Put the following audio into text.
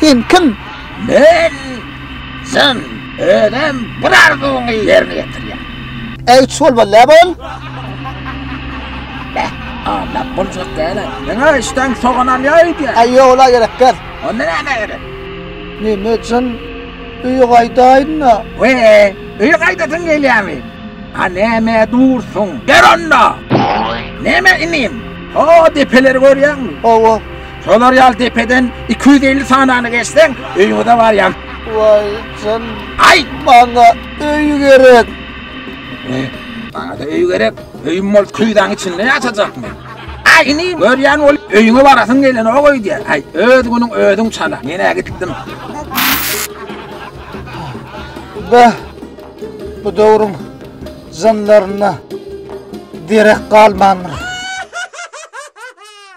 Sen kim? Men sen özüm bir arzuwyňy ýerine ýetirýän. Äý üç bol bol, lä bol. Beh, anlap boljak däl. Diňe işden soganam ýaýypýa. Äý ýok, ola gerek däl. Onda näme gerek? Neme üçin öýe gaýdaýyn-da? We, öýe gaýdasyň gelýärmi? A näme dursuň? Der onda! Näme inim? O depeleri görýäňmi? Hawa. Şolar ýaly depeden iki ýüz elli sanany geçseň, öýüňize barýaň. Waý, sen Aý! maňa öý gerek. E, Maňa-da öý gerek. Öýüm bol küýzäň içinde ýaşajak men. Aý, inim, görýän bolup, öýüňe barasyň gelenok öýdýän. Aý, öz günüň özüň çala. Men-ä gitdim. Beh, bu döwrüň Jynlaryna derek galmandyr.